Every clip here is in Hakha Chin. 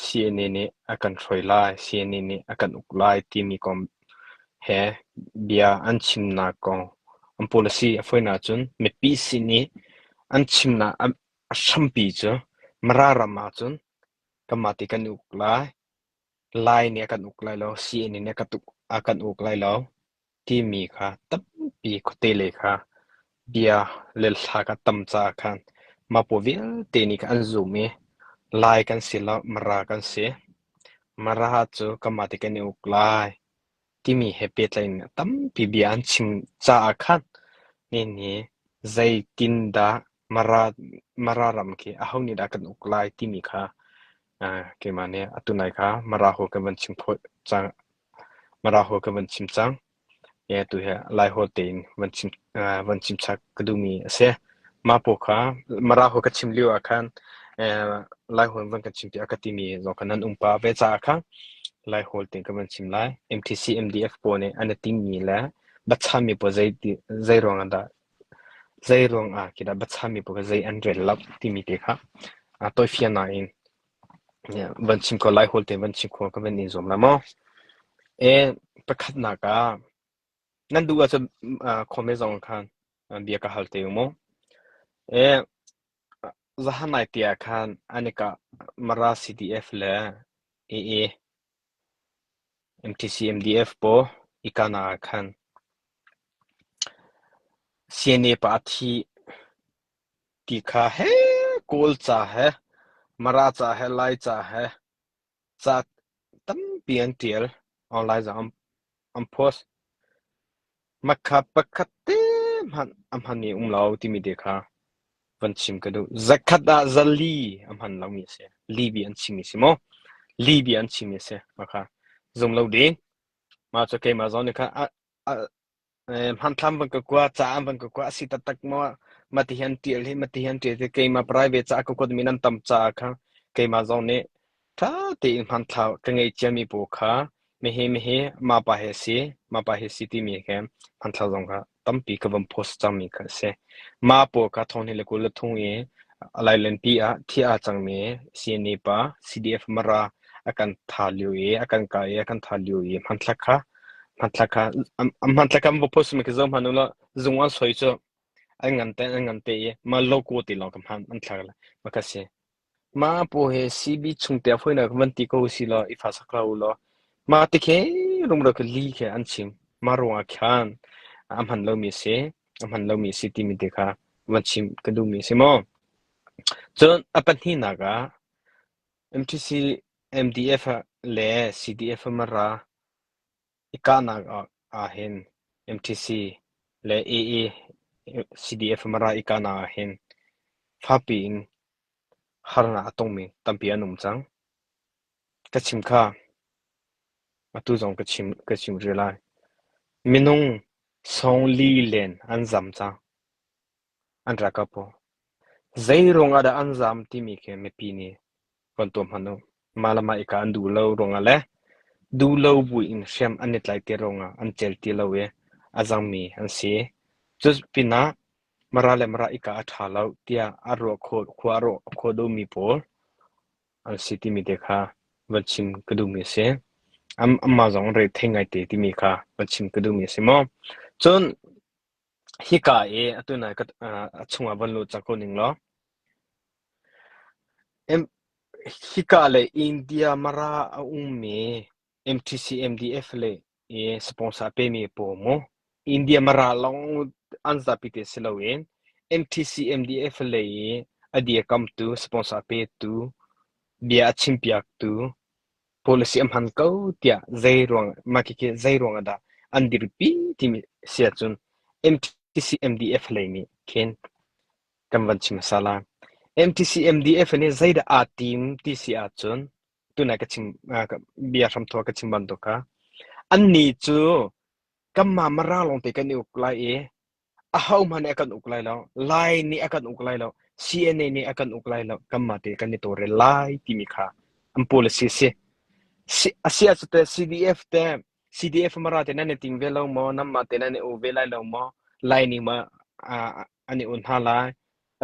Sihni nih a kan hruai lai, sihni nih a kan uk lai timi kong he bia an chimnak kong an pul a si. A fawinak ahcun mipi sin i an chimnak a hrampi cu Mara ram ahcun kanmah ti kan i uk lai, Lai nih a kan uk lai lo, sihni nih a kan uk lai lo. timi kha tampi khuate le kha bia le hla kan tam caah khan mah-paw vialte nih khan an zum i lai kan si lo, Mara kan si. Mara cu kanmah te kan i uk lai timi he pehtlai in tampi bia an chim caah khan nihin zeitindah Mara, Mara ram khi aho nih dah kan uk lai timi kha keimah nih atu nai kha Mara ho kan van chim fawn cang. Mara hawi ka van chim cang. Tu hi Lai hawi tein van chim chap ka duhmi a si. Mah paoh kha Mara hawi ka chim lio ah khan Lai hawi van kan chim tiah ka timi zong kha nan um pah ve caah kha Lai hawi tein kan van chim lai. MTC MDF pawl nih an i tinhmi le biachahmi pawl zei ruangah dah zei ruangah khi dah biachahmi pawl kha zei an rel lo timi te kha tawifiannak in Van chim khawh, Laiholh te van chim khawh ka van i zuam lai maw? Pakhatnak ah nan duh ahcun khawme zong khan bia ka hal te u maw? Zahanai te ah khan anika Mara CDF le AA MTC MDF pawl ikana ah khan CNA pa a thi. Ti kha he, kawl ca he, Mara ca he, Lai ca he ca tampi an ṭial. Online zong an, an post. Makha pakhat te hmanh a hman i um lo timi te kha van chim ka duh. Zakhat ah zali a hman lomi a si. Libi an chimmi a si maw? Libi an chimmi a si. Makha zum lo ding. Mah cu keimah zong nih khan a, a, Hmanthlak van ka kuat caah van ka kuat a si taktak maw? Ma ti hi an ṭial hi, ma ti hi an ṭial hi keimah private caah ka kuatmi nan tam caah kha keimah zong nih ṭha tein hmanthlak ka ngei ciami pawl kha mihi mihi mapa he si, mapa he si timi kha hmanthlak zong kha tampi ka van post cangmi kha a si. Ma pawl kha thonghni le kul le thong i a lailenpi ah thiah a cangmi CNA pa CDF Mara a kan tha lio i a kan kah i a kan tha lio i hmanthlak kha hmanthlak kha hmanthlak kha va post mi ka zohman ula zung an soi cu ai ngan te an ngan te i ma logo ti long kam han an thlar la ma ka si ma pu he CB chung te foi na van ti ko si lo i fa sak la u lo ma ti ke rum ro ke li ke an chim ma ro a khan a man lo mi se a man lo mi si ti mi te kha van chim ka du mi si mo chun a pahnih na ga MTC MDF le CDF ma ra I kahnak ahhin MTC le AACDF Mara i kahnak ahhin fakpi in harnak a tongmi tampi an um cang. Ka chim kha atu zong ka chim rih lai. Minung sawng li len an zam cang. An rak ka paw. Zeiruang ah dah an zaam timi khi mipi nih von tuah hmanh u. Mah le mah i kaa an duh lo ruangah le duh lo buin hriam an i tlaihter ruangah an cel ti lo i a zangmi an si. Cu pinah Mara le Mara i kaa a ṭha lo tiah a ruah khawh, khua a rawh a khua duhmi pawl an si timi te kha von chim ka duhmi a si. An- anmah zong rethei ngaite timi kha von chim ka duhmi a si maw? Cun Hika i atu nai a chungah von lut cang ko ning law. Hika le India Mara a ummi MTC MDF le i sponsor pemi pawl mu. India Mara lawng an zapi te si loin MTC MDF le i a dirkamtu, sponsor petu, bia a chimpiaktu, Policy a hman ko tiah zeiruang mahkhikhi zeiruang ahdah an dirpi timi si ahcun MTC MDF lei nih khin kan van chim hmasa lai. MTC MDF nih zeidah aa tim ti si ahcun tunai ka chim bia hramthawh ka chim bantuk kha annih cu kanmah Mara lawngte kan i uk lai i ahohmanh nih a kan uk lai lo. Lai nih a kan uk lai lo. CNA nih a kan uk lai lo. Kanmah te kan i tawlrel lai timi kha an policy a si. Si a si ah cu teh CDF te CDF mara te nan i ting ve lo maw? Nanmah te nan i u ve lai lo maw? Lai nih ma ah an i u hna lai.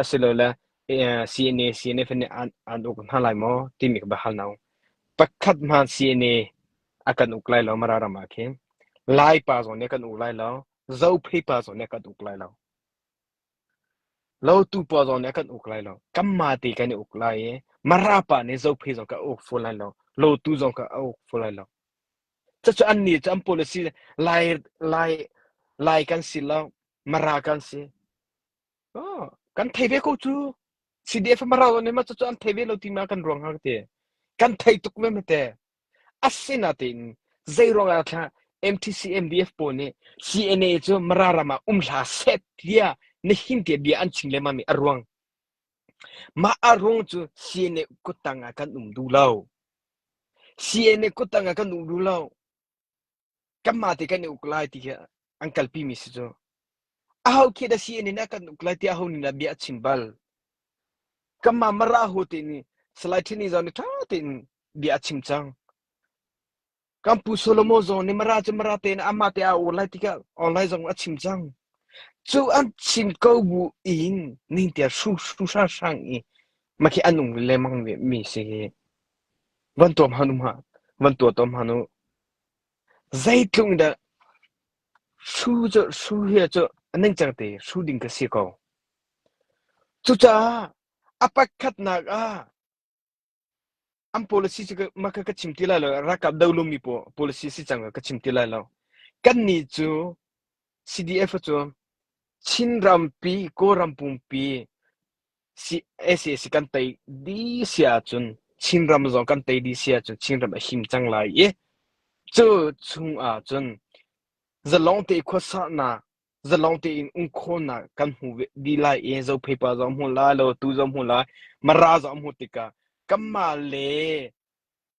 Asilole eh, CNA CNF nih an, an uk hna lai maw? Timi ka hal no. Pakhat hman CNA a kan uk lai lo mara ram ah khin. Lai pa zong nih kan uk lai lo. Zophei pa zong nih kan uk lai lo. Lotu pa zong nih kan uk lai lo. Kanmah te kan i uk lai i Mara pa nih Zophei zong ka uk full lai lo. Lotu zong ka uk full lai lo. Cucu annih cu an policy lai lai lai kan si lo. Mara kan si. Oh, kan thei ve ko cu. CDF Mara zong nih ma cucu an thei ve lo ti ma kan ruang har te. Kan thei tuk ve me te. Asinain zeiruangah khah MTCMDF pawl nih CNA cu Mara ram ah um hlah seh tiah na himte bia an chim lengmang mi a ruang. Mah a ruang cu CNA kuttang ah kan um duh lo. CNA kuttang ah kan um duh lo. kanmah te kan i uk lai ti khi an kalpimi si cu aho khi da si an in ah kan uk lai ti aho nih dah bia a chim bal kanmah mara hu te nih salai ṭhini zawn i ṭha tein bia a chim cang kan pu Solomon zawn nih mara cu mara te nih amah te a ur lai ti ka online zong a chim cang cu an chin ko bu in ning te shu shu sha sang i ma khi an ung le mang mi si hi van tuam hanum ha van tua tom hanu Zeitluk in dah su hi cu a ningcang te su ding ka si ko. Cucaah a pakhatnak ah an policy cu mah kha ka chim ti lai lo. Ralkap do lumi policy si cang ka chim ti lai lo. Kannih cu CDF cu Chin rampi, Kawlram pumpi ACAC kan tei dih si ahcun Chinram zong kan tei dih si ahcun Chinram a him cang lai i cu chung ahcun zalong te khuasaknak zalong tein um khawhnak kan hmu dih lai i zopheipa zong hmu lai lo tu zong hmu lai mara zong hmu tikah kanmah le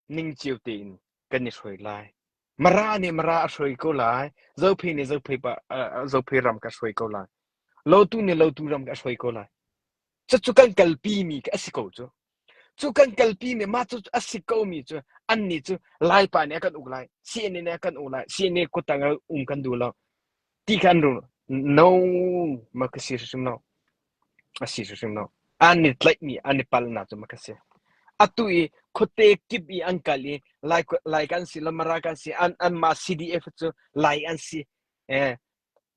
Ning cio tein kan i hruai lai. Mara nih mara a hruai ko lai. Zophei nih zophei pa, uh, zophei ram ka hruai ko lai. Lotu nih lotu ram ka hruai ko lai. Cu cu kan kalpi mi a si ko cu. Cu kan kalpi mi ma cu a si ko mi cu an ni cu lai pa nih a kan uk lai. CNN nih a kan uk lai. CNN kutang um kan duh lo. ti khan no ma ka si hrimhrim lo a si hrimhrim lo an i tlaihmi an i palnak cu ma ka si atu i khuate kip i an kal i lai lai kan si lamara kan si an an ma CDF cu lai an si eh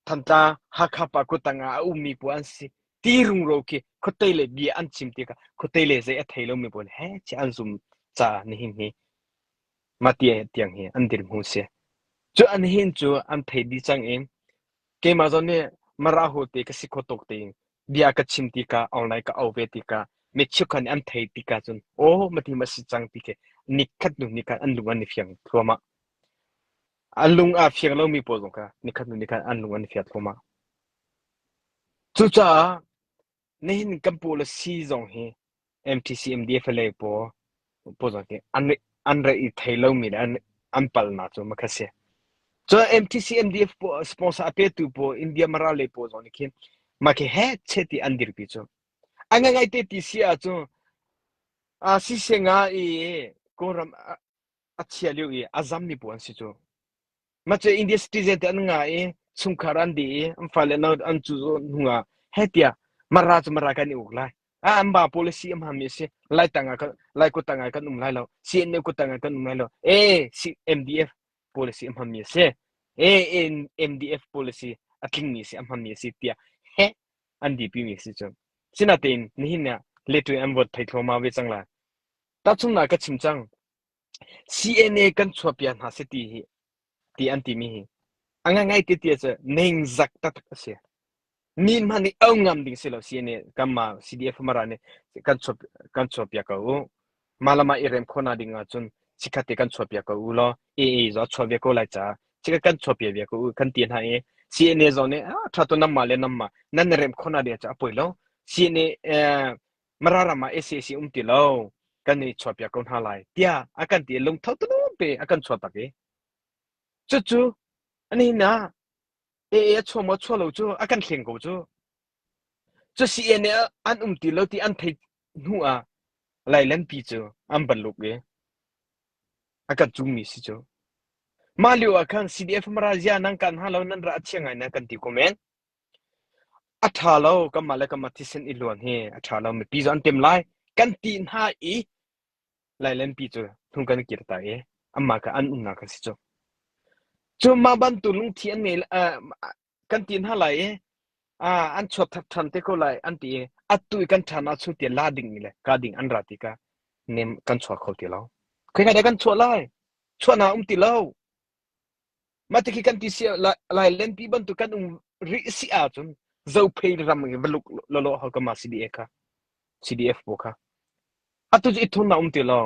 thantla hakha pa kutang a ummi pu an si ti rungro khi khutai le bia an chim ti ka khutai le zei a thei lo mi pu he chi an zum cha ni hin hi Matthias tiang hi an dirhmun a si. Cu an hin cu an thei dih cang i keimah zong nih Marahu te ka si kho tuk tiin bia ka chim tikah online ka auh ve tikah mi cheukhat nih an thei tikah cun aw mathim a si cang ti khi nikhat hnu nikhat an lung an i fiang thluahmah. An lung aa fiang lomi pawl zong kha nikhat hnu nikhat an lung an i fiang thluahmah. Cucaah Nihin kan policy zong hi MTCMDF le paw paw ki an an re i thei lomi le an an palnak cu makha si. So MTCMDF paw sponsor a petu paw India mara le paw zong nih khin makhi he che ti an dirpi cu. An ngai te ti si ah cu a si se nga i Kawlram a chia liu i a zam mi paw an si cu. Mace India citizen te an nga i chungkhar an di i an fale no an cu hnu ah hei tiah mara cu mara kan i uk lai a an ba policy am hami a si lai tangah kan lai kut tangah kan um lai lo CNA kut tangah kan um lai lo e MDF policy am hami a si e MDF policy a tlingmi si am hami a si tiah he an di pi mi si cu sinatein nihin ne letu an vote thai thoma ve cang la ta chung na ka chim cang CNA kan chuahpiak hna si ti hi ti an timi hi a ngaingai ti ti ahcun ningzak taktak a si mi hmanh nih au ngam ding si lo CNA kanmah CDF mara nih kan chuah kan chuahpiak ko u malama i rem khawna ding ahcun sikhat te kan chuahpiak ko u law AA zo chuah ve ko lai ca sikhat kan chuahpiak ve ko u kan ti hna i CNA zong nih a thatu namma le namma nan rem khawna ding ca a poi lo CNA eh, Mara ram ah ACAC um ti lo kan i chuahpiak ko hna lai tiah a kan ti i lungtho tulum te a kan chuah tak i cucu nihin ah AA a chua maw chua lo cu a kan thleng ko cu cu CNA an um ti lo ti an thei hnu ah lailanpi cu an ban luk i a kan cungmi si cu mah lio ah khan CDF mara zia nan kan hna lo nan ra a thiang ai na kan ti komen A ṭha lo, kanmah le kanmah thisen i luan hi a ṭha lo. Mipi cu an ṭem lai, kan tih hna i lailenpi cu hnung kan i kir ta i anmah kha an umnak kan si cu. Cu mah bantuk lungthin an ngei uh, kan ti hna lai i uh, an chuak thak ṭhan te ko lai an ti i atu i kan ṭhan ah chung ti la dingmi le ka ding an ra ti ka nem kan chuak kho ti lo. Khaikhat ah kan chuah lai, chuahnak um ti lo. Mah ti khi kan ti siah lailenpi bantuk kan um rih si ahcun Zophei ram in va luk lawlaw hau ka mah CDF kha CDF bu kha atu cu ithun na um ti lo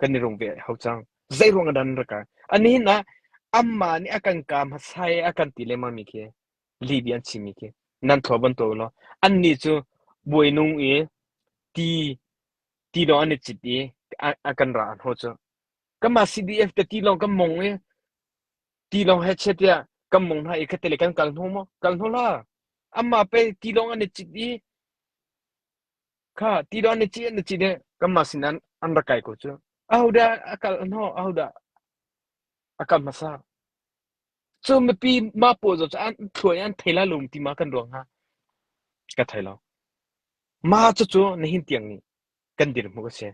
kan i rung ve hau cang zeiruang ah dan rak kai ani hin ah amma nih a kan ka hmasa i a kan ti lengmang mi khi libi an chim mi khi nan thlo ban to lo an ni cu buai nung i ti ti dong an i cit i a kan ra an ho cu Kanmah CDF te tilawng kan mong i tilawng he chiat tiah kan mong hna i khatte le kan kal hnawh maw? Kal hnawh la. Anmah pei tilawng an i cit i kha tilawng an i cit an i cit i kanmah sin an an rak kai ko cu. Ahodah a kal hnawh? Ahodah a kal hmasa? Cu mipi mah pawl zaw cu an thluai an thei la lum ti ma kan ruang hna ka thei lo. Mah cucu nihin tiang nih kan dirhmuh a si.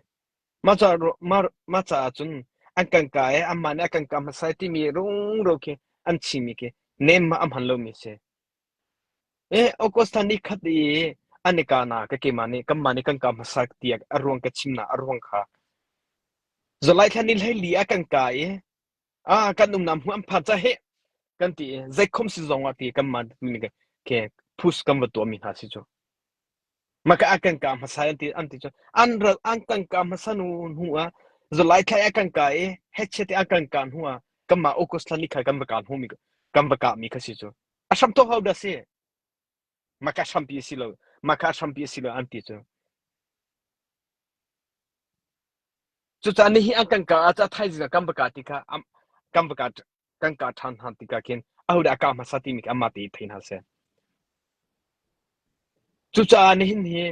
Mah caah cun an kan kaa i anmah nih a kan kaa hmasa timi rungrau khi an chimmi khi nem ah a hman lomi a si. August thla ni khat i an i kahnak ka keimah nih kanmah nih kan kaa hmasa ti a ruang ka chimnak a ruang kha July thla ni hlei li a kan kaa i ah kan umnak hmun an phan ca hi kan ti i zeikhom si zong ah ti kan man ke push kan va tuah mi hna si cu maka a kan ka hmasa an ti an ti cu an ral an kan ka hmasa nu nu a zulai thlai a kan ka i heche te a kan ka nu a kan ma ukus thani khai kan va ka hu mi kan va ka mi kha si cu a sham to how da si maka hrampi a si lo maka hrampi a si lo an ti cu cucah nihi an kan ka ca thaizing kan baka ti kha kan baka kan ka than han ti ka kin ahu da ka ma sa ti mi amma ti thai na se cucah nihin hi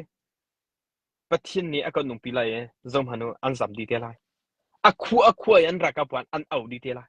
pathin ni akon nung pi lai e zom hanu an zam di te lai akhu akhu an raka puan an au di te lai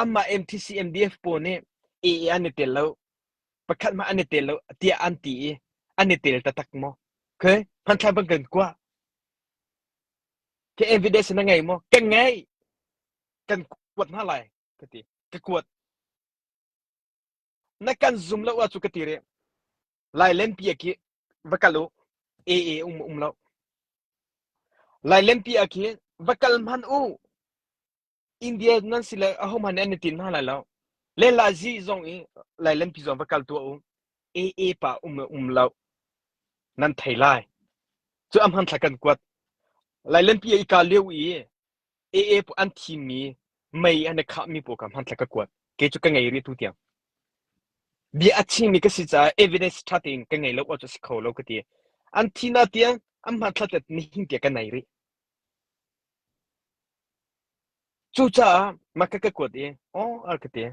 Amah MTCMDF pawl nih A an i tel lo, pakhat hmanh an i tel lo tiah an ti i an i tel taktak maw? Okay, hmanthlak bang kan kuah. Ka evidence na ngei maw? Ka ngei. Kan kuat hna lai ka ti. Ka kuat. Na kan zum lo ah cu ka ti rih. Lailenpi a khi va kal u. AA um um lo. Lailenpi a khi va kal hman u. India nan si le a hom han an tin hna lai lo. Le la zi zong i lailenpi zong va kal tu u. AA pa um um lo. Nan thei lai. Cu am han thla kan kuat. Lailenpi i ka leu i Ee an thimmi, mei an i khahmi pawl kha hmanthlak ka kuat. Kei cu ka ngei rih tu tiang. Bia a chimmi ka si caah evidence ṭha tein ka ngei lo awk cu a si kho lo ka ti. An thi hna tiang an hmanthlak te nihin tiang ka nei rih. Cucaah mah ka ka kuat i, aw, a ka ti.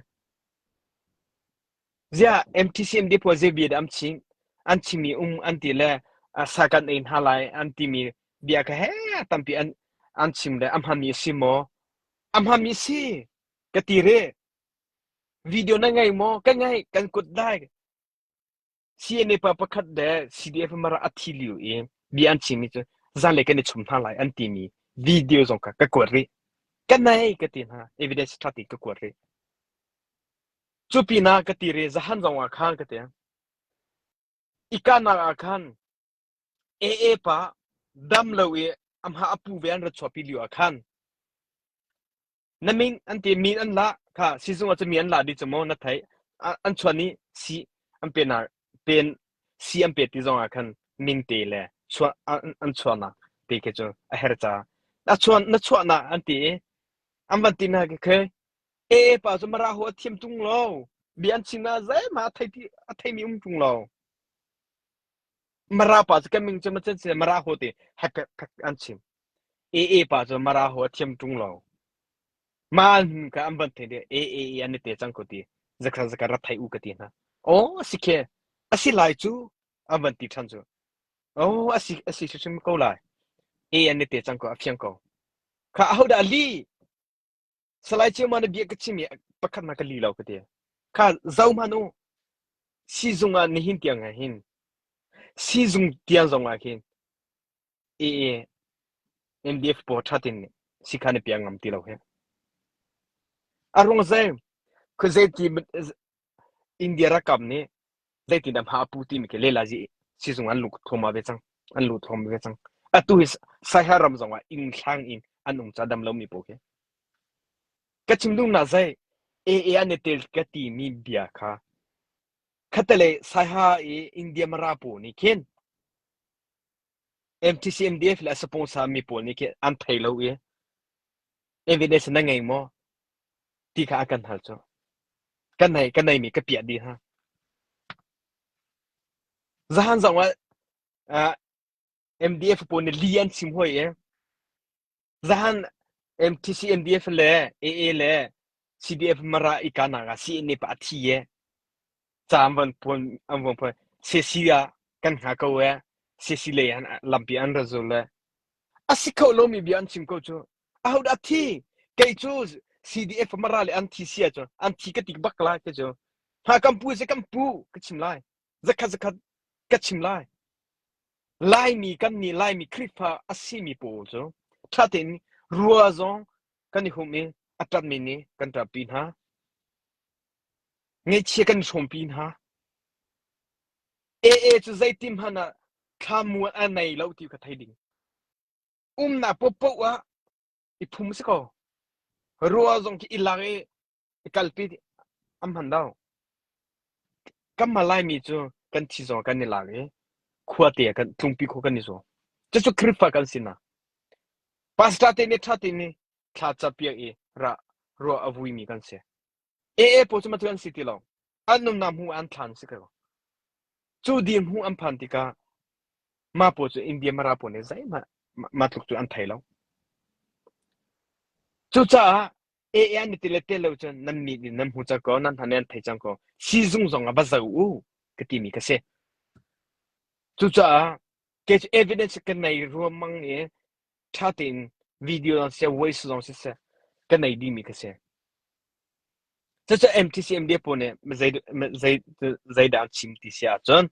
Ziah MTCM deposit bia dah an chim? An chimmi um an ti le sa kan ei hna lai an timi bia kha heh tampi an an chim le a hmanmi a si maw? A hmanmi si ka ti re. Video na ngei maw? Ka ngei, kan kut dai. CNA pa pakhat le CDF mara a thi liu i bia an chimmi cu zan le kan i chum hna lai an timi video zong kha ka kuat rih. Ka nei ka ti hna evidence ṭha ti ka kuat rih. Cupinah ka tir i zahan zongah khan ka teng. I kahnak ah khan Ee pa dam lo i amha a pu ve an rat chuahpi lio ah khan na min an ti mi an la kha sizung ah cu mi an la dih cu maw na theih A- an chuan i si an pen ar pen si an pe ti zongah khan min te le chuah an, an chuahnak te khi cu a her ca a chuan na chuahnak an ti i an van ti na khi Ee pa cu Mara hu a thiam ṭung lo. Bia an chim ah zeihmah a thei ti a theimi um ṭung lo. Mara pa cu kan min cu macen si Mara hu ti hak an chim. Ee pa cu Mara hu a thiam ṭung lo. Maan ka an van thei de ee ee an i te cang ko ti zakhat zakhat rat thai u ka ti hna. Oh si khe asi lai cu an van ti ṭhan cu. Oh asi asi hrim ko lai. Ee an i te cang ko a fiang ko. Kha ahodah li Salai Ceu Mana bia ka chim i pakhat na ka li lo ka ti. Kha zohman u siizung ah nihin tiang ah hin siizung tiang zong ah hin i MDF pawl thatin nih sikhan i piang ngam ti lo hi. A rung zei, khuazei ti India rakam nih zeitin a hma a pu timi khi lelazi sizung an lut thuama ve cang an lut thuam ve cang atu hi saiha ram zong ah ing thlang in an um ca dam lomi pawl khi ka chim dum na zai AA an i tel ka ti mi bia kha khatalei saiha i India mara pawl nih khin MTCMDF le a sponsarmi pawl nih khi an thei lo i evidence na ngei maw ti kha a kan hal cu kan nei kan neimi ka piah dih hna zahan zong ah uh, MDF pawl nih li an sim hoi i Zahan MTCMDF le AA le CDF mara ikanak ah CNA pa a thi ye ca an van puan an van puan sesi ah kan hna ko e sesi lei an lampi an ra zul le a si kho lomi bia an chim ko cu a ho da thi kei cu CDF mara le an thi sia cu an thi ka tik bak lai ka cu hna kan pu se kan pu ka chim lai zakhat zakhat ka chim lai laimi kan nih laimi khrifa a simi pawl cu ṭha tein rua zong kan i hum i a ṭanmi nih kan ṭanpi hna ngeihchia kan hrawmpi hna AA cu zeitin hmanh ah thlamuan a nei lo ti ka thei ding umnak popoh ah i phum si ko rua zong khi i lak i I kalpi an hman lo. Kan hman laimi cu kan thi zong kan i lak i khuate ah kan tlungpi khua kan i zuam. Cucu Khrihfa kan si na. Pastor te nih tha te nih thla ca piak i ra ruah a vuimi kan si. AA pawl cu matu an si ti lo. an nunnak hmuh an thlan si ko cu dir hmuh an phan tikah ma paw cu india mara paw ne zai ma ma tluk cu an thei lo cucaah e e an ti le te lo cun nan mi din nan hmu cha ko nan hane an thei chang ko sizung zong a va zo u ka ti mi ka si cucaah ke evidence kan nei ruam mang ni ṭha tein video zong siseh, voice zong siseh kan nei dimi ka si. Cucu MTCM dia pawl nih zeidah an chim ti si ahcun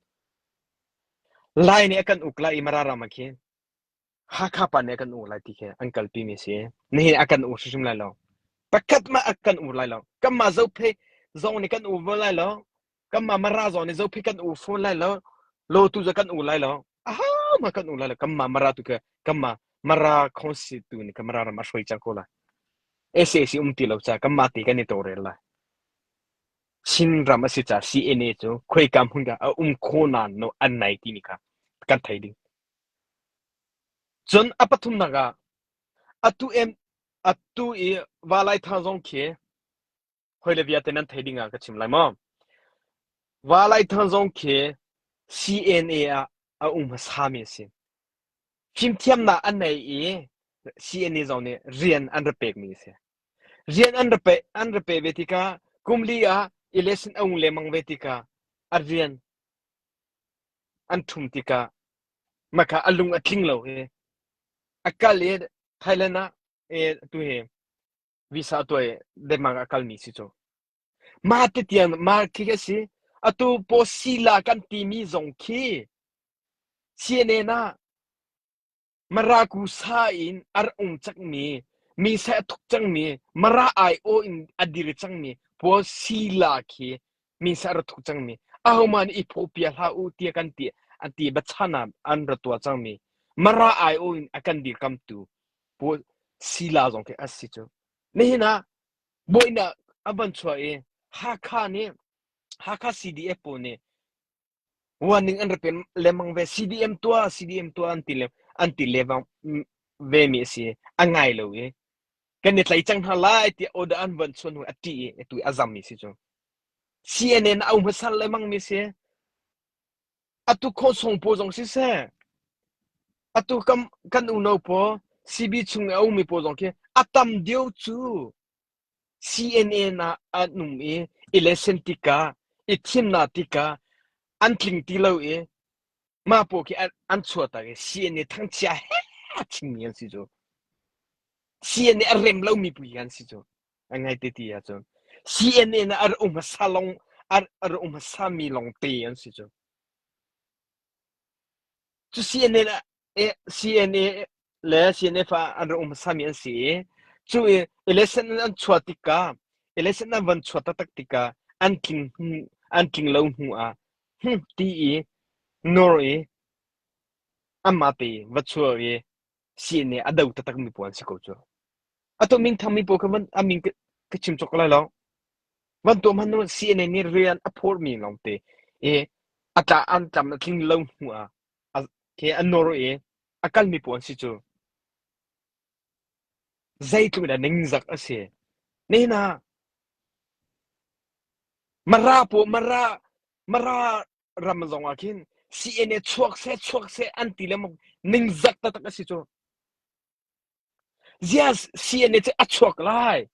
Lai nih a kan uk lai i Mararama khi Hakha pa nih a kan uk lai ti khi an kalpi mi si. Nihin a kan uk hrimhrim lai lo. Pakhat mah a kan uk lai lo. Kanmah zophei zong nih kan uk ve lai lo. kanmah mara zong nih zophit kan u phone lai lo lo tu za kan u lai lo a ha ma kan u lai lo kanmah mara tu ke kanmah mara khonsi tu ni kamara ram a shroi cha ko lai SAC um ti lo cha kanmah ti kan ni to rel lai Chin ram asi cha CNA chu khoi kam hun ka a um kho na no an nai ti ni ka kan thai ding cun a pathum na ga atu em atu i walai tha zong khi hoi le vialte nan thei ding ah ka chim lai maw Valaithang zong khi CNA ah a um hmasami a si fimthiamnak an nei i CNA zong nih rian an ra pekmi a si rian an ra pe an ra pe ve tikah kumli ah election a um lemang ve tikah a rian an thum tikah maka a lung a tling lo hi a kal i Thailand ah e tu hi Visa tuai Denmark a kalmi si cu. Mah titian mark khi a si. Atu posila kan timi zong khi CNN ah Marakusa in ar ung cangmi mi se a thuk cangmi mara ai o in a dir cangmi pawl sila khi mi se ar thuk cangmi aho man i phopia hla u tia kan ti an ti bachana an ra tua cangmi mara ai o in a kan dir kamtu Paul sila zong khi asi cu. Nihin ah buainak a van chuah i Hakha nih Hakha CDF pawl nih warning an rak pe lengmang ve. CDM tuah, CDM tuah an ti le an ti levang ve mi asi. An ngai lo i kan i tlai cang hna lai tiah order an van chuan hnu a ṭih i a tu i a zam mi si cu. CNN a um hmasar lengmang mi si. A tuk khawh sung paw zong siseh, atu kan, kan unau paw CB chung i a ummi paw zong khi a tam deuh cu CNN ah an um i election tika i thimnak tika an tling ti lo i mah paw khi an, an chuahtak i CNN thangchia he chingmi an si cu CNN a rem lomi pui an si cu a ngai ti ti ahcun CNN ah a um hmasa lawng a um hmasa mi longte an si cu cu CNN ah CNA le CNF ah an um hmasa mi an si i cu election an chuah tikah election an van chuah taktak tikah an tling an tling lo hnu ah hm ti i nor i amma te va chuah i sihni a do taktak mi pawl an si ko cu ato min thang mi pawl kha van amin ka ka chim chok lai lo van tuam han nu sihni nih rian a phor mi lawng te e atla an tlam a tling lo hnu ah a ke an nor e a kal mi pawl an si cu zeitluk in ningzak a si nihna mara po mara mara ram zong ah khin CNA chuak se chuak se an ti le ningzak taktak a si cu zia CNA cu a chuak lai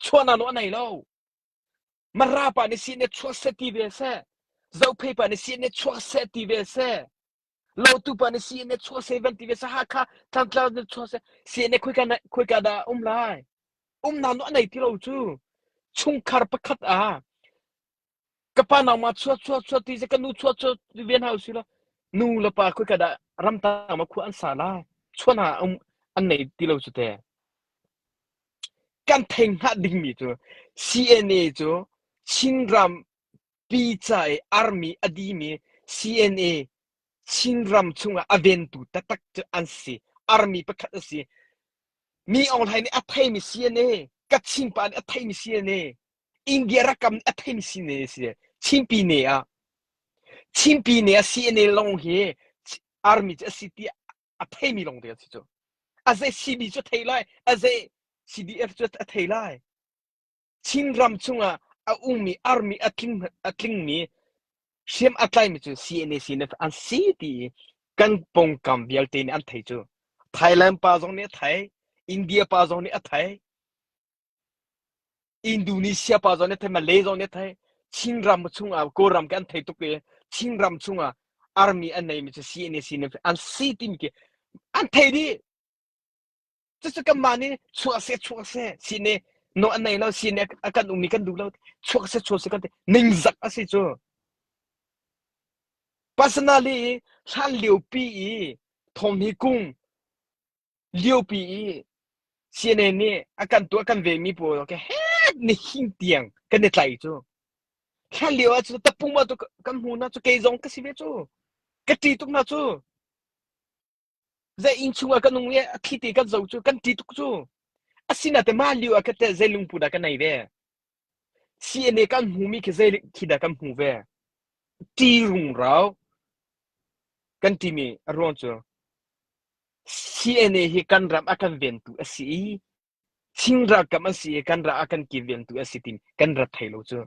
chuana no anai lo mara pa ni CNA chuak se ti ve se zophei pa ni CNA chuak se ti ve se lotu pa ni CNA chuak se van ti ve se ha kha tlang tlang ni chuak se CNA khoi ka khoi ka da um lai um na no anai ti lo chu chungkhar pakhat a ka pa nangmah chuak chuak chuak ti se ka nu chuak chuak ti ven hau si lo nu le pa khui ka dah ramtang ma khua an sa lai chuan ha um an nei ti lo cu te kan theng hngah dingmi cu CNA cu Chinram pica i army adimi CNA Chinram chungah aventu taktak cu an si army pakhat a si mi Aung Hlaing nih a theimi CNA Kachin pa nih a theimi CNA India rakam a theimi sine a si le Chinpi ne ah Chinpi ne ah CNA lawng hi army cu a si ti a theimi lawng te a si cu. A zei CB cu a thei lai, a zei CDF cu a thei lai. Chin ram chungah a ummi army a tling a tlingmi hriam a tlaimi cu CNA CNF an si ti kan pawngkam vialte nih an thei cu. Thailand pa zong nih a thei, India pa zong nih a thei. Indonesia pa zong nih thei, Malay zong nih thei, Chinram chungah Kawlram ke an thei tuk i Chinram chungah army an neimi cu CNAC nih an si timi khi an thei dih. Cucu kanmah nih chuak seh chuak seh sine no an nei lo sine a kan um ni kan duh lo chuak seh chuak seh kan ti ningzak a si cu. Personally hlan liopi i thawm hi kung Liopi i CNN nih a kan tuah kan vemi pawl ka het ni hing tiang kan i tlai cu. Hlan lio ah cu tapung ma tu kan hmu na cu kei zong ka si ve cu. Ka ṭi tuk na cu. Zei inn chung ah kan nung i a thli te kan zo cu kan ṭi tuk cu. Asinate mah lio ah kate zei lungput dah ka nei ve. CNA kan hmu mi khi zeilik thi dah kan hmu ve ti rungrau kan ti mi a ruang cu CNA hi kan ram a kan ventu a si i Chin ralkap an si i kan ram a kan ki ventu a si ti kan rat thei lo cu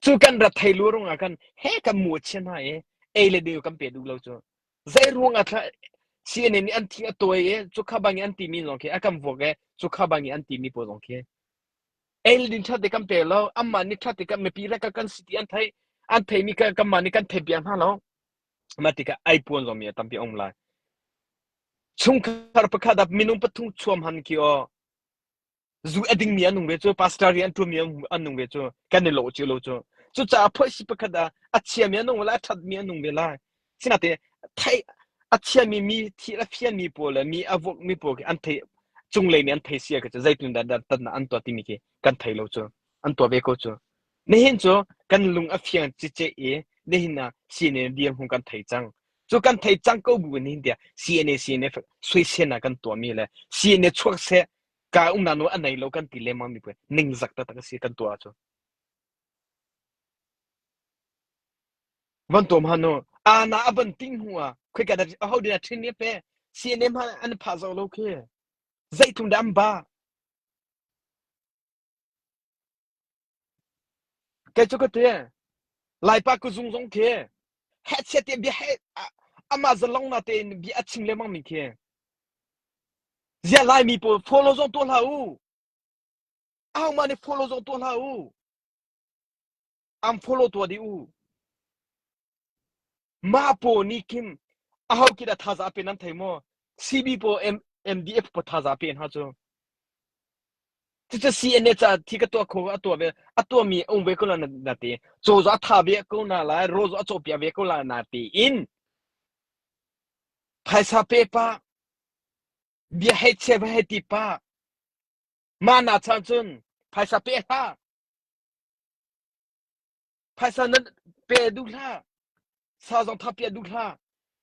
cu kan rat thei lu rung ah kan he kan mu chia hna i ei le deu kan pe duh lo cu zei ruang ah tha CNA nih an thi a tawi i cu kha bang i an ti mi zong khi a kan vuak i cu kha bang i an ti mi pawl zong khi Eildin ṭhate kan pe lo, anmah nih ṭhate kan mipi le kan si ti an theih, an theimi kanmah nih kan theih piak hna lo. Mah tikah ai puan zongmi a tampi a um lai. Chungkhar pakhat ah minung pathum chuam han ki o zu a dingmi an nung ve cu pastor ri an ṭumi an nung ve cu kan i lo cu lo cu cucaah phoisi pakhat ah a chiami an nung ve lai a ṭhatmi an nung ve lai Sinate theih a thiami mi thil a fianmi pawl le mi a vukmi pawl khi an thei cunglei nih an thei sia ka cu zeitin dah tatnak an tuah timi khi kan thei lo cu an tuah ve ko cu nihin cu kan lung a fiang cice i nihin ah CNA dirhmun kan thei cang cu kan thei cang ko bu nihin tia CNA CNA suisen ah kan tuahmi le CNA chuak se ka um na nu a nei lo kan ti lemang mi pwe ning zak ta tak si kan tua cu Van tuam han u. A na a van ting hnu ah khoi ka ho din a thin ne pe CNA hma an phah zo lo khi zei thum dam ba kai chu ka te lai pa ku zung zong khi he che te bia he ama zalong na te bi a ching le mang mi khi zia lai mi po follow zong to la u ahohmah nih follow zong tuah hlah u an follow tua dih u mah paw nih kim aho kit a thaza pe nan thei maw CB paw MDF paw thaza pe hna cu cucu CNA ca thi ka tuah kho a tuah ve a tuah mi um ve ko la na te chozo a tha ve ko na la rozo a chopia ve ko la na te in phaisa pe pa Bia hei chia va hei ti pa. Mah na chan cun phaisa pe hlah. Phaisa nan pe duh hlah. Sa zong tha pe duh hlah.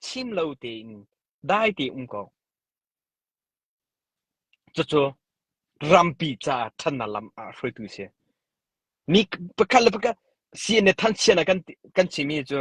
Chim lo tein dai te um ko. Cucu rampi ca thanna lam ah hruaitu si. Mi pakhat le pakhat si ne than chiana kan kan chimi cu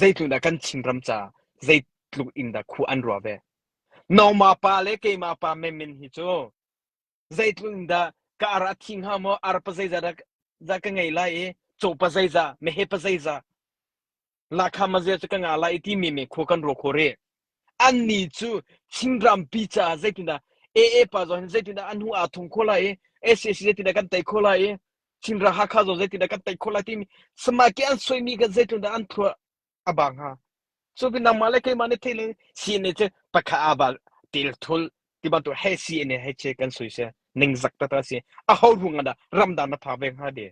Zeitluk dah kan Chinram ca zeitluk in dah khuh an ruah ve. Nongma pa le keima pa menmen hi cu zeitluk in dah ka ar a thi hnga maw, ar pa zeiza dah, dah ka ngei lai i caw pa zeiza, mehe pa zeiza, lahkham a zia cu ka ngah lai i timi men khua kan ruah khawh rih. An ni cu Chinrampi caah zeitindah AA pa zong hin zeitindah an hnu aa thong khawh lai i SAC zeitindah kan tei khawh lai i Chinral Hakha zawn zeitindah kan tei khawh lai timi semaike an soimi kan zeitlun dah an thluah a ba hnga. Cu pinang mah le keimah nih theih le CNA cu pakha a ba til thul ti bantuk he CNA he che kan sui se ningzak ta ta si a ho ruang ah dah ramdang na pha ve hnga de.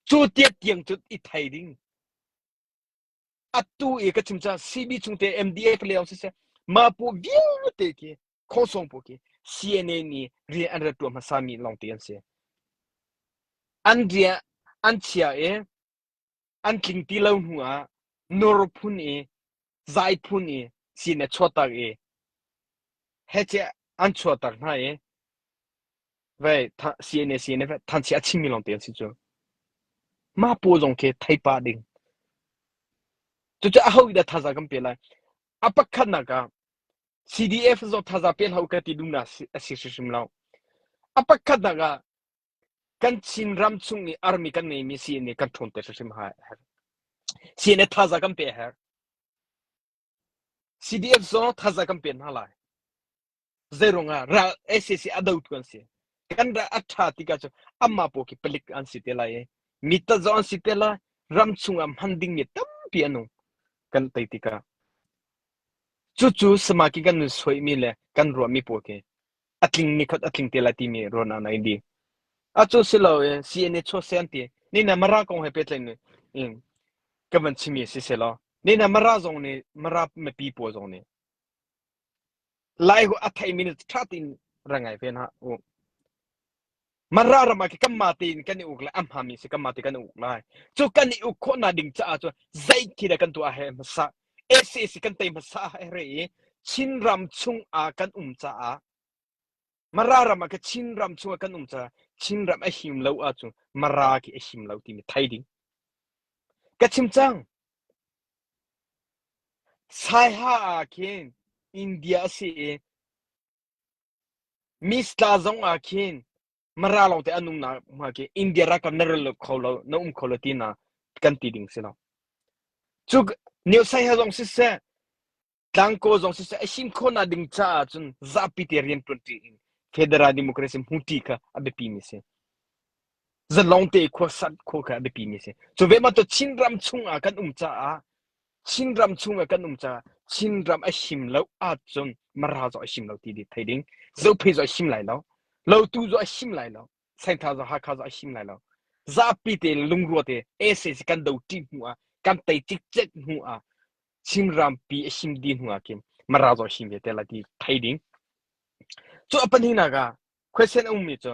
Cu tiak tiang cu i thei ding. Atu i ka chim cah CB chung te MDA ka leo siseh mapu vialte khi khosong pu khi CNA ni rian an rat tua hmasa mi long ti an si an rian an chia i an tling ti lo hnu ah nor phun i zai phun i sin a chuatak i heche an chuatak hna i Vei CNAC nih vei thanchia a chimmi lawngte an si cu. Mah pawl zong khi thei pah ding. Cucu a hoih dah thaza kan pe lai. A pakhatnak ah CDF zawt thaza pe hlah u ka ti duhnak a si hrimhrim lo. A pakhatnak ah kan Chin ram chung i army kan ngeimi CNA kan ṭhawnter hrimhrim hai a herh. CNA thaza kan pe a herh. CDF zong thazaang kan pek hna lai. Zeiruang ah ral SAC a dotu an si. Kan ral a ṭha ti ka cu amah pawl khi palik an si te lai i mi ta zong an si te lai. Ram chungah hman dingmi tampi an um. Kan tei tikah. Cucu samakin kan nun suaimi le kan ruahmi pawl khi a tling nikhat a tling te lai timi ruahnak na di a cu si lo e CNA cho sen ti ni na mara kong he pe tlain in ka van chimi si se lo ni na mara zong ni mara me pi po zong ni lai hu a thai minute tha tin rangai ve na u Mara ram ah khi kanmah tein kan i uk lai, a hmami si kanmah te kan uk lai. Cu kan i uk khawh nak ding caah cu zeiti dah kan tuah he hmasa, SAC kan tei hmasa he re i Chin ram chung ah kan um caah Mara ram ah ka Chin ram chung ah kan um caah Chin ram a him lo ah cu Mara khi a him lo timi thai ding. Ka chim cang. Saiha ah khin India a si i Miss tla zong ah khin Mara lawng te an um nakhnga khi India rak kan na rel lo kho lo, na um kho lo ti na kan ti ding si lo. Cu New Sai ha zong siseh, Tlangkaw zong siseh, a sim kho na ding caah cun zapi te rian tuanṭi in Federal Democracy hmuṭi kha a biapi mi si. Zalong te khuasat kho kha a biapi mi si. Cu ve ma to Chin ram chung ah kan um caah Chinram chung ah kan um caah Chinram a him lo ahcun Mara zong a him lo ti di thei ding. Zophei zong a him lai lo. Lotu zong a him lai lo. Santha zong Hakha zong a him lai lo. Zapi te lungrua te SAC kan do ṭi hnu ah kan tei cikcek hnu ah Chinram pi a him di hnu ah kim Mara zong a him ve te la ti thei ding. Cu a pahnih nak ah question a ummi cu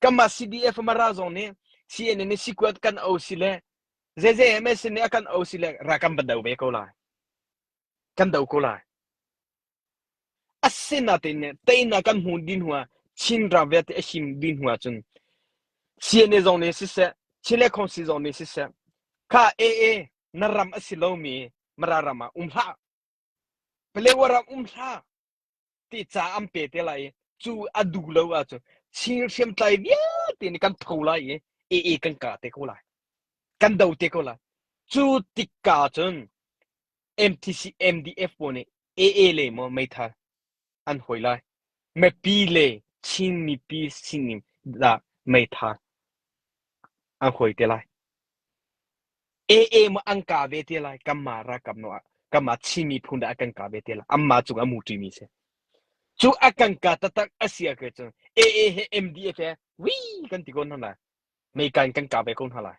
Kanmah CDF mara zong nih CNN nih sikuat kan o si le zeze MSN nih a kan o si le ra kan van do ve ko lai. Kan do ko lai. Asin natin ne teinak kan hmu din hua chin ra ve te ashim din hua cun CNA zong nih siseh Chile Council zong nih siseh kha AA na ram asi lomi mara ram ah um hlah Paleo ram um hlah ti ca an pe te lai i cu a duh lo ahcun Chin hriamtlai vialte nih kan tho lai i ee kan ka te ko lai. Kan do te ko lai. Cu tikka cun MTC MDF pawl nih AA le maw meithal an hawi lai. Mipi le Chin mipi sining dah meitha an hawi te lai. AA ma an ka ve te lai. Kanma rakam no ah kanma Chin miphun dah kan ka ve te lai. Amma cung a mu ṭimi si. Cu a kan ka taktak a si ahcun cun AA he MDF he wii kan ti ko hna lai. Mei kan kan ka ve ko hna lai.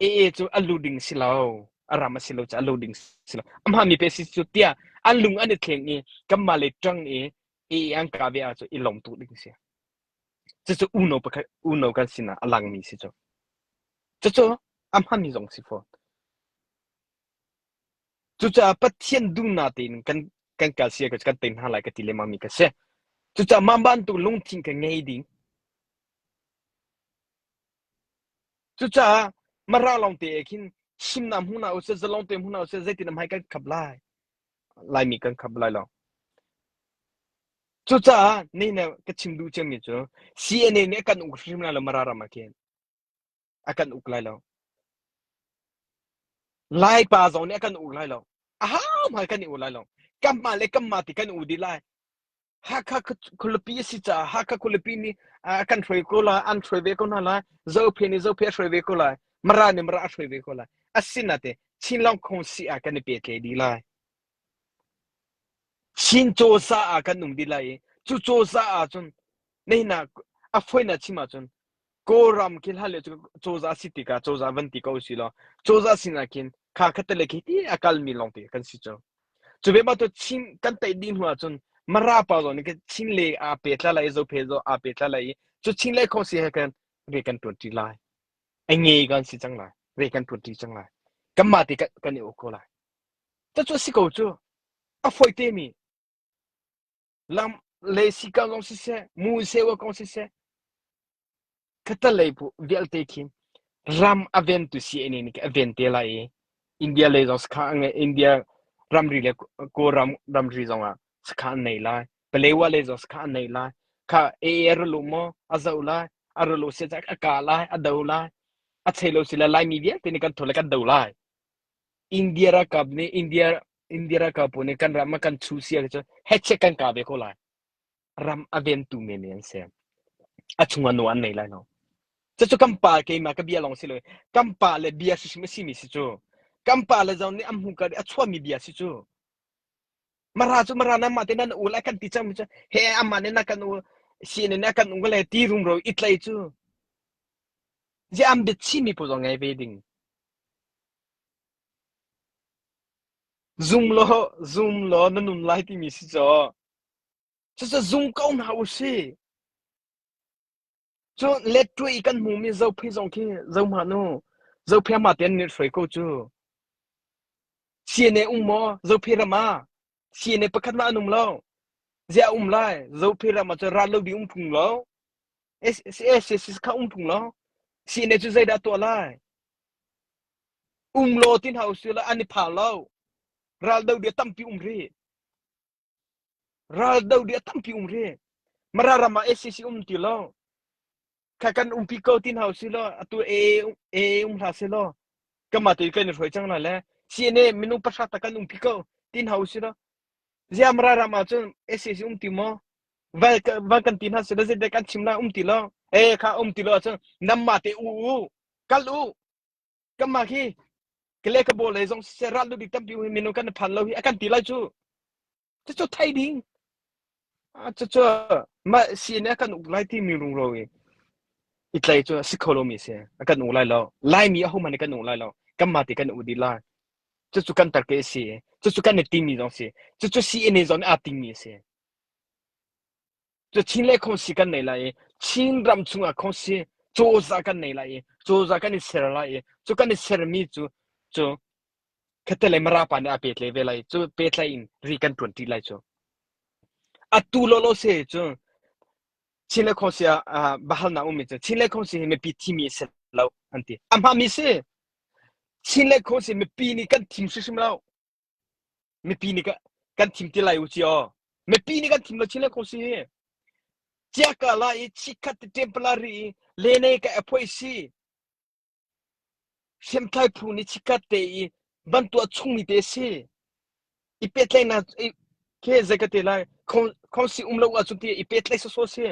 Ee cu a lu ding si lo, a ram a si lo caah a lu ding si lo. Amah mi pe si cu tiah a lung an i thleng i kanmah le ṭang i ee an ka ve ah cu i lawmtu ding si. Cucu uno pakhat uno kan sinah a langmi si cu. Cucu a hmanmi zong si fawn. Cucaah Pathian duhnak tein kan kan kal sia ka kan tein hna lai ka ti lengmang mi ka si. Cucaah mah bantuk lungthin ka ngei ding. Cucaah Mara lawngte ah khin himnak hmu hna usih, zalongte hmu hna usih, zeitin a hmai kan khap lai? Laimi kan khap lai lo. Cucaah nei ne ka chim duh cangmi cu CNA nih a kan uk hrim lai lo Mara ram ah khin a kan uk lai lo. Laipa zong nih a kan uk lai lo. A hau hmai kan i uk lai lo. Kamhma le kamhma ti kan u dih lai. Hakha khualipi a si caah Hakha khualipi nih kan hruai ko lai, an hruai ve ko hna lai, Zophe nih Zophe a hruai ve ko lai, Mara nih Mara a hruai ve ko lai. Asinate Chinlong khong si ah kan i petle dih lai. Chin cawsa ah kan um dih lai i, cu cawsa ah cun, na hina a foina chim ahcun, Kawlram khi hlan le cu cozah si tikah cozah van ti ko si law cozah sinah khin kha kha tele khi ti a kalmi lawngte kan si cu cu ve ma to chin kan tei dih hnu ahcun mara pa zawn ke chin le a pe tla lai zo phe zo a pe tla lai cu chin le kho si he kan ve kan tuan ti lai ai nge kan si chang lai ve kan tuan ti chang lai kan ma te kan i ko lai ta chu si ko chu a foi te mi Lam le sika kong siseh, mu sewa kong siseh, khatalei pu vialte khi ram a ventu CNA nih a ven te lai i India lei zong sakha an ngeih India ramri le Kawlram ramri zong ah sakha an nei lai. Palewa lei zong sakha an nei lai. Kha AA ru lu maw a zo lai, a ru lu si cak a ka lai, a do lai, a chei lo si lai Laimi vialte nih kan tho le kan do lai. India rakap nih India India ralkal pawl nih kan ram a kan chu si cu heche kan ka ve ko lai ram a ventu men an si a chung a no an nei lai no cu kan pa ke ma ka bia long si lo kan pa le bia si sim si mi si chu kan pa le zon ni am hu ka a chua mi bia si chu mara chu mara na ma te nan u la kan ti chang mi chu he amma ne na kan u si ne na kan u le ti rum ro it lai chu je am bit chi mi pu zo ngai ve ding Zum law zum law na nun lai timi si caw cucu zum ko hna u sih. Cun let ṭuah i kan hmumi zophei zong khi zohmanh u, zophei ah mah tein nih hruai ko cu. Sian e um maw zophei ram ah? Siane pakhat mah an um lo. Zia um lai. Zope ram ah ran lo ding um phung lo. SSS kha um phung lo. Siane cu zeidah tuah lai? Um lo tin hau si la an i pha lo. Ral do dia tampi um ri. Ral do dia tampi um ri. Mara rama SSC um ti lo. kha kan umpi ko tin hau si lo atu e e um hla se lo kama tu kan roi chang la le si ne minu pasha ta kan umpi ko tin hau si lo ziam ra rama chun ss um ti mo val val kan tin ha se lo je de kan chimla um ti lo e kha um ti lo chun namma te u u kal u kama khi kle ka bo le zong se ral lu di tampi hu minu kan phan lo hi akan ti lai chu Cucu thei ding. Cucu mah siin a kan uk lai timi rungro i i tlai cu si kho lomi si a kan uk lai lo laimi a homan kan uk lai lo kan ma ti kan uk dih lai cucu kan tar ke si cucu kan i timi zong si cucu si ine zong aa timi si cu Chin le khongsi kan nei lai i Chin ram chungah khongsi cozah kan nei lai i cozah kan i ser lai i cu kan i sermi cu cu khatte mara pa nih a petle ve lai cu petlai in ri kan ṭuanṭi lai cu atu lawlaw se cu Chin le khongsi ah bahalnak ummi cu Chin le khongsi hi mipi thimi a si lo an ti a hmami si Chin le khongsi mipi nih kan thim hrimhrim lo Mipi nih kan thim ti lai u ci aw. Mipi nih kan thim lo chin le ko si. Chia ka la i chikhat te tempala ri i lene ka apoi si. Hriamtlai phu ni chikhat te i bantua chungmi te si. I petlai na ke zai ka te lai. Khong si um lo a cunti i petlai so so si.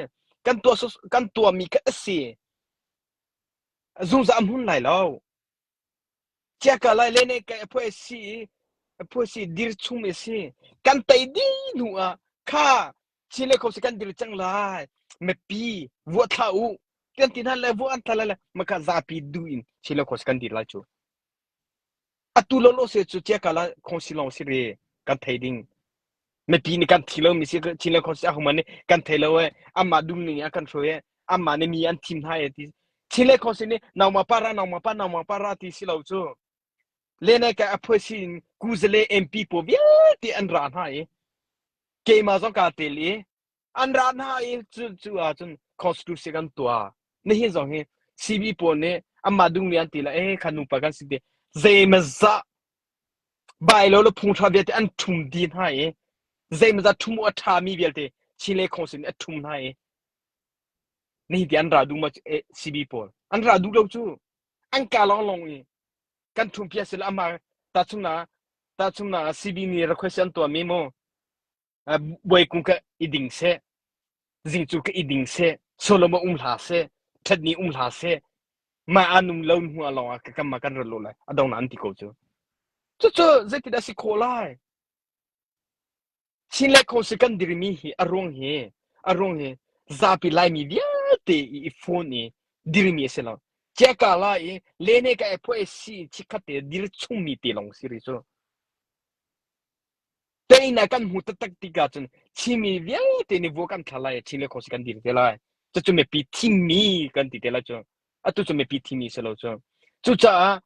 Kan tua so kan tua mi ka si. Zungza am hun lai lo. Ciah ka lailene ka a phu a si i a phu a si dir chung mi a si. Kan tei dih hnu ah kha ci le kho si kan dir cang lai. Mepi vuah thla u. Tian tin han le vuah an tha lai le maka zapi du in ci le kho si kan dir lai cu. Atu lo lo se cu ciah ka la khong si long si re kan thei ding. Mipi nih kan thi lomi Chin le khuasiakung man nih kan thei lo i anmah dumning in a kan hruai i anmah nih mi an thim hna e ti. Chin le khuasi nih nangmah para nangmah pa nangmah para ti si lo cu lenai ka aphuasi in kuzale MP pawl vialte an ra hna i keimah zong kaa tel i an ra hna i cu cu ahcun constitution kan tuah nihin zong hi CB pawl nih anmah dungmi an ti la eh kan nupa kan si ti zeimazah bailo le phungthra vialte an thum di hna i zeimazah thum a tha mi vialte Chin le Council a thum hna i nihin ti an ra dung ma CB pawl an ra duk lo cu an ka long long i kan thum pia sila ama ta chung na ta chung na CB ni request an tuah mi mo buai kung ka i ding seh zing cu ka i ding seh soloma um hla seh ṭhatni um hla seh ma anum lo hnuah lawngah ka kama kan rat lo lai adong nan ti ko cu cucu zeitin asi khawh lai chin le kho si kan dirmi hi aruang hi aruang hi zapi laimi vialte i phone i dirmi asi lo cheka la i lene ka e phoe si chikhat te dir chungmi te long siri cu Tein ah kan hmu taktak tikah cun thimi vialte nih vua kan thlar lai i thi le khuasik kan dir te lai. Cucu mipi thimi kan ti te lai cu. Atu cu mipi thimi si lo cu. Cucaah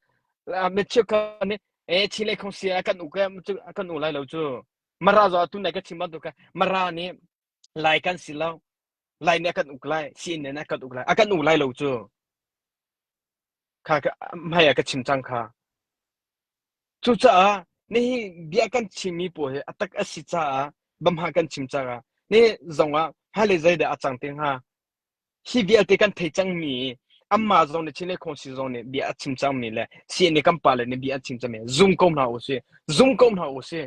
ah mi cheukhat nih ee thi le khuasia kan u ke cu kan u lai lo cu. Mara zaw atu nai ka chim bantuk ka mara nih lai kan si lo. Lai nih a kan uk lai, siin nih a kan uk lai. A kan u lai lo cu. kha hmai ah ka chim cang kha. Cucaah nihi bia kan chimmi pawl hi a tak a si caah bamha kan chim caah ni zongah hale zeidah a cang te hnga hi vialte kan thei cangmi anmah zong nih chin le khong si zong nih bia a chim cangmi le si nih kan pa le nih bia an chim cangmi zung ko hna u sih zung ko hna u sih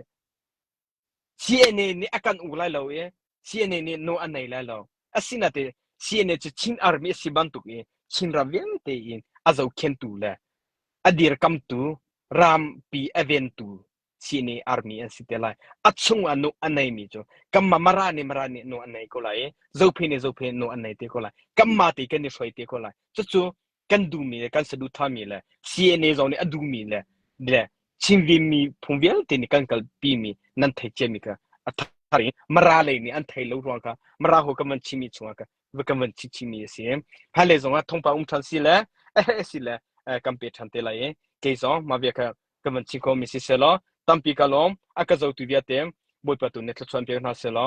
CNA nih a kan uk lai lo i CNA nih nawl a nei lai lo. Asinain CNA cu Chin Army a si bantuk i Chinram vialte in a zohkhentu le a dirkamtu rampi a ventu CNA Army an si te lai. A chungah nuh a neimi cu kanmah Mara nih Mara nih nuh a nei ko lai i Zophei nih Zophei nih nuh a nei te ko lai. Kanmah te kan i hruai te ko lai. Cucu kan duhmi le kan saduhthahmi le CNA zong nih a duhmi le le chimvimi phung vialte nih kan kalpimi nan thei ciami kha a thar in mara lei nih an thei lo ruang kha mara ho kan van chimi chungah ka kan van chi chimi a si hal le zong ah thongpa um than si le si le kan pe than te lai e kei zong ma via kha kan van chi ko mi si selo tampi ka lom aka zo tu via te boipa tu ne thlachuan pe hna selo